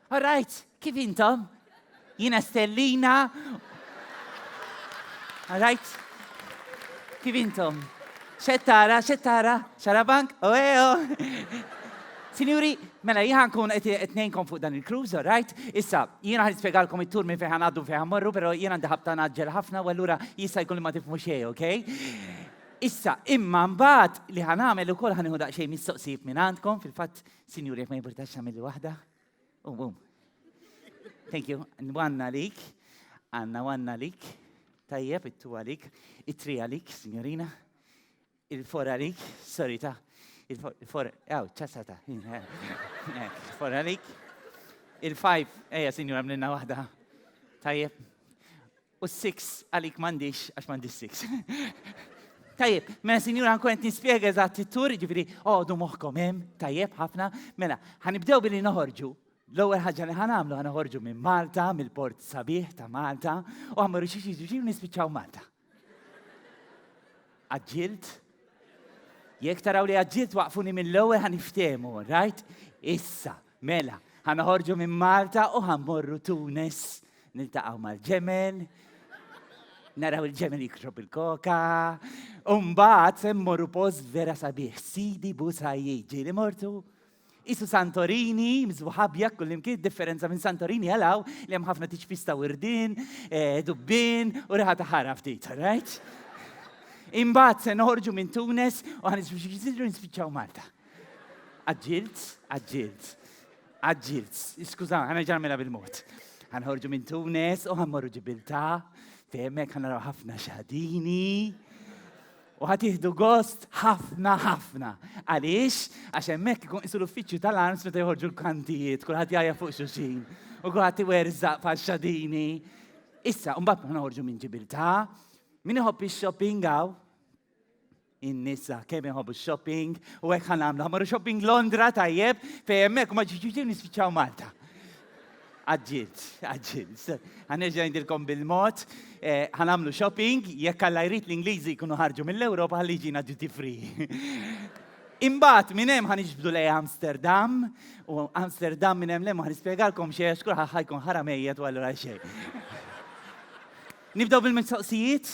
All right, kif intom? Jina Stellina. All right? Kif intom? Xettara, xettara, xarabank, oeo. Sinjuri, mela jħan kun etnejnkom fuq dan il-cruise, all right? Issa, jina għan spiegalkom il-tur minn fejħan għaddu fejħan morru, pero jina ndaħab ta' naġġel ħafna, u għallura jissa jkun li ma tifmu xej, ok? Issa, imma mbagħad li ħanamel ukoll ħanieħu daqsxejn mistoqsijiet minn għandkom, fil-fatt Sinjuri, jekk ma jimpurtax għamilli waħda. Um, um. Thank you. Nwanna lik. Għanna wanna lik. Tajjeb, it-tu għalik. It-tri għalik, signorina. Il-for għalik. Sorry ta. Il-for, għaw, ċasata. Il-for għalik. Il-five, eja, signora, mlinna wahda. Tajjeb. U s-six għalik m'għandix għax m'għandix six. Tajjeb, mela sinjura nkun qed nispjega eżatt it-tur, jiġifieri għodu moħħkom hemm, tajjeb ħafna. Mela, ħanibdew billi noħorġu. L-ewwel ħaġa li ħanamlu ħanoħorġu minn Malta, mill-port sabiħ ta' Malta, u għamlu xi xi xi nispiċċaw Malta. Aġġilt? Jekk taraw li aġġilt waqfuni mill-ewwel ħaniftehmu, rajt? Issa, Mela, ħa noħorġu minn Malta u ħa mmorru Tunis. Niltaqgħu mal-ġemel, naraw il-ġemel jikrob il-koka, u mbagħad se mmorru post vera sabiħ, Sidi Busajji, ġieli mortu. Isu Santorini, mżbuħabja kullimkien, differenza minn Santorini għalaw li hemm ħafna tiċpista wirdin, eh, dubbin u riħa ta' ħara ftit, right? Imbagħad se noħorġu minn Tunes u ħanisfiċċaw Malta. Għagġilt, għagġilt, għagġilt. Skuża, ħana ġarmela bil-mod. Għanħorġu minn Tunes u ħammorru ġibilta, fejmek ħanaraw ħafna xadini. U ħatiħdu gost ħafna ħafna. Għaliex, għax hemmhekk ikun isu l-uffiċċju tal-arms meta joħorġu l-kantijiet, kulħadd jgħajja fuq xuxin, u kulħadd iwerżaq faxxadini. Issa, mbagħad ma ħorġu minn ġibilta, min iħobb ix-shopping għaw? in-nisa kemm iħobbu shopping u hekk ħan nagħmlu ħamru shopping Londra tajjeb fejn hemmhekk ma ġiġiġi nispiċċaw Malta. Għadġilt, għadġilt. Għanerġa' ngħidilkom bil-mod, eh, ħan nagħmlu shopping jekk alla jrid l-Ingliżi jkunu ħarġu mill-Ewropa ħalli ġina duty free. Imbagħad minn hemm ħan iġbdu lej Amsterdam u Amsterdam minn hemm lemma ħan nispjegalkom xejn għax kulħadd ħajkun ħaramejja u allura xejn. Nibdew bil-mistoqsijiet?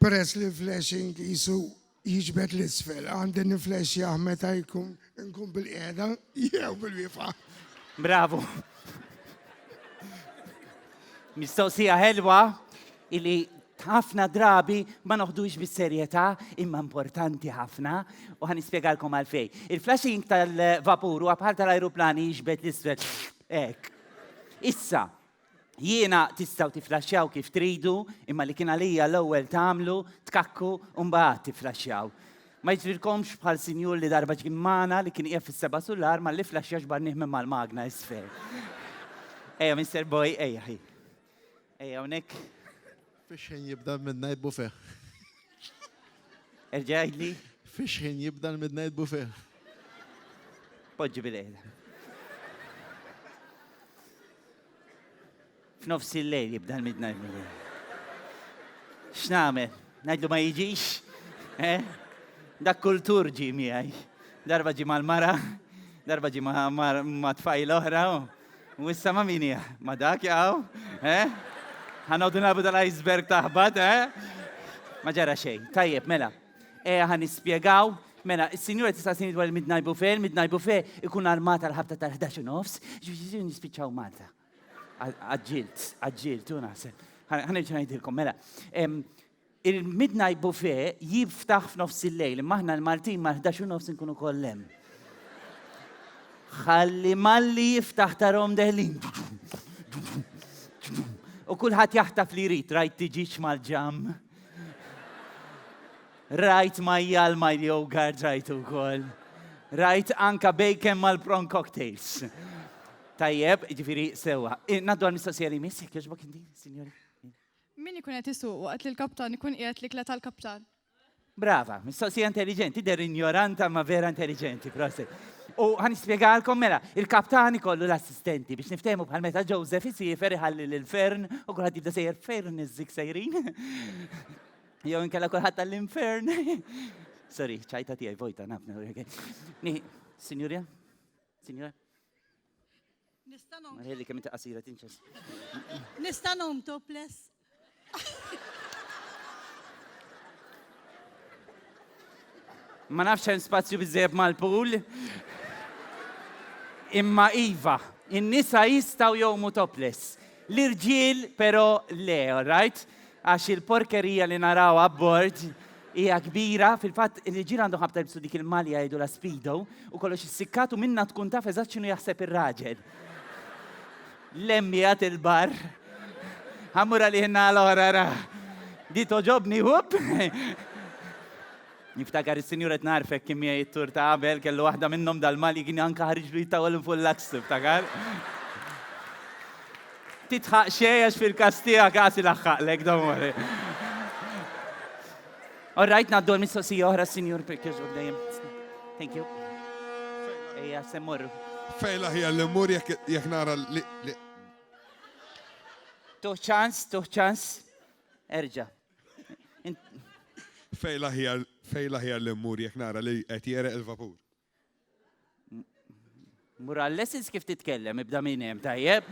Peress li l-flashing qisu jiġbed 'l isfel, għandi niflexxjah meta nkun bil-qiegħda jew bil-wieqfa. Bravu. Mistoqsija ħelwa illi ħafna drabi ma noħdux bis-serjetà imma importanti ħafna u ħan nispjegalkom għalfej. Il-flashing tal-vapur huwa bħal tal-ajruplani jiġbed l-isfel. Hekk. Issa, Jiena tistgħu tiflaxxjaw kif tridu, imma li kien għalija l-ewwel tagħmlu, tkakku u mbagħad tiflaxxjaw. Ma jiġrilkomx bħal sinjur li darba ġie magħna li kien qiegħed fis-seba' sular malli flaxxa xbarnieh minn mal-magna isfel. Ejja, Mister Boy, ejja ħi. Ejja hawnhekk. Fiex ħin jibda l-midnight buffet? Erġa' għidli. Fiex ħin jibda l-midnight buffet? Poġġi bil-għela. F'nofs il-lejl jibda l-midnight buffet. X'nagħmel? Ngħidlu ma jiġix? Eh? Dak kultur ġi miegħi. Darba ġi mal-mara, darba ġi ma' tfajl oħra. U issa ma' min hija? Ma' dak jaqaw? Eh? Ħanoddu nabu tal-iceberg taħbat, eh? Ma ġara xejn. Tajjeb, mela. Eh, ħan nispjegaw. Mela, il-sinjura tista' sini dwar il-midnight buffet, il-midnight buffet ikun armata l-ħabta tal-11 u nofs, ġifieri nispiċċaw Malta. Għadġilt, għadġilt, u naħseb. Ħan ngħidilkom, mela. Il-midnight buffet jiftaħ f'nofs il-lejl, imma aħna l-Maltin mal-ħdax u nofs inkunu koll hemm. Ħalli malli jiftaħ tarhom deħlin. U kulħadd jaħtaf li jrid, rajt tiġiġ mal-ġam. Rajt majjal ma' yogurt rajt ukoll. Rajt anka bacon mal-prawn cocktails. Tajjeb, ġifiri sewa. Naddu għal-mistoqsija li miss, jek joġbok indi, signori. Min ikun qed isuq waqt li l-kaptan ikun qiegħed l-ikla tal-kaptan? Brava, mistoqsija intelligenti, der injoranta ma vera intelligenti, prosit. U għan ispiegalkom mela, il-kaptan ikollu l-assistenti biex niftehmu bħal meta Joseph isifer iħalli l-fern u kulħadd jibda sejjer fern iż-żik sejrin. Jew inkella kulħadd tal-infern. Sorry, ċajta tiegħi vojta nafna. Sinjurja? Sinjura? Nista' nom. Ħelli kemm inti qasira tinċes. Nista' nom topless. Ma nafx hemm spazju biżejjed mal-pool. Imma iva, in-nisa jistgħu jgħumu topless. L-irġiel però le, alright? Għax il-porkerija li naraw abbord hija kbira, fil-fatt l-irġiel għandhom ħabta jilbsu dik il-malja jgħidulha speedo u kollox issikkat u minnha tkun taf eżatt x'inhu jaħseb ir-raġel. Lemm qiegħed il-bar. Ħa mmur għalih in-naħa l-oħra ra. Di togħġobni, whoop! Niftakar is-sinjur qed nagħrfek kien miegħi t-tour ta' qabel kellu waħda minnhom dal-Mali kien anke ħariġlu jittawwal minn fuq l-aks tiftakar. Titħaq xejn għax fil-każ tiegħek għasi laħħaqlek domori. All right, ngħaddu għal mistoqsija oħra s-sinjur Pirkirġ dejjem. Thank you. Ejja, semmur. Fejla ħija l-immur jekk nara li. Tuħ ċans, tuħ ċans. Erġa'. Fej l-aħjar, fej l-aħjar li mmur jekk nara li qed jereq il-vapur. Mural lessons kif titkellem, ibda minn hemm tajjeb.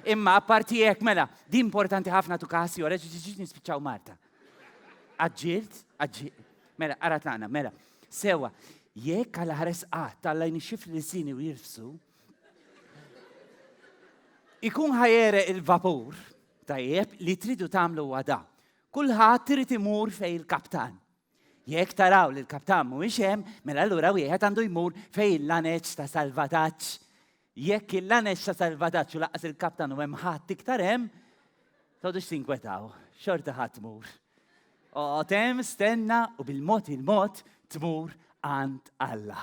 Imma apparti hekk mela, di importanti ħafna tu kasi ora ġiġiġ nispiċċaw Marta. Aġġilt, aġġilt. Mela, ara tagħna, mela. Sewa, jekk għal ħares qatt tallajni xif li sini u jirfsu, ikun ħajere il-vapur, Tajjeb, li tridu tagħmlu huwa da. Kulħadd irid imur fejn il-kaptan. Jekk taraw li l-kaptan mhuwiex hemm, mela allura wieħed għandu jmur fejn il-laneġ ta' salvataġġ. Jekk il-laneġ ta' salvataġġ u laqas il-kaptan u hemm ħadd iktar hemm, tgħodux tinkwetaw, xorta ħadd mur. Oqgħod hemm, stenna u bil-mod il-mod tmur għand Alla.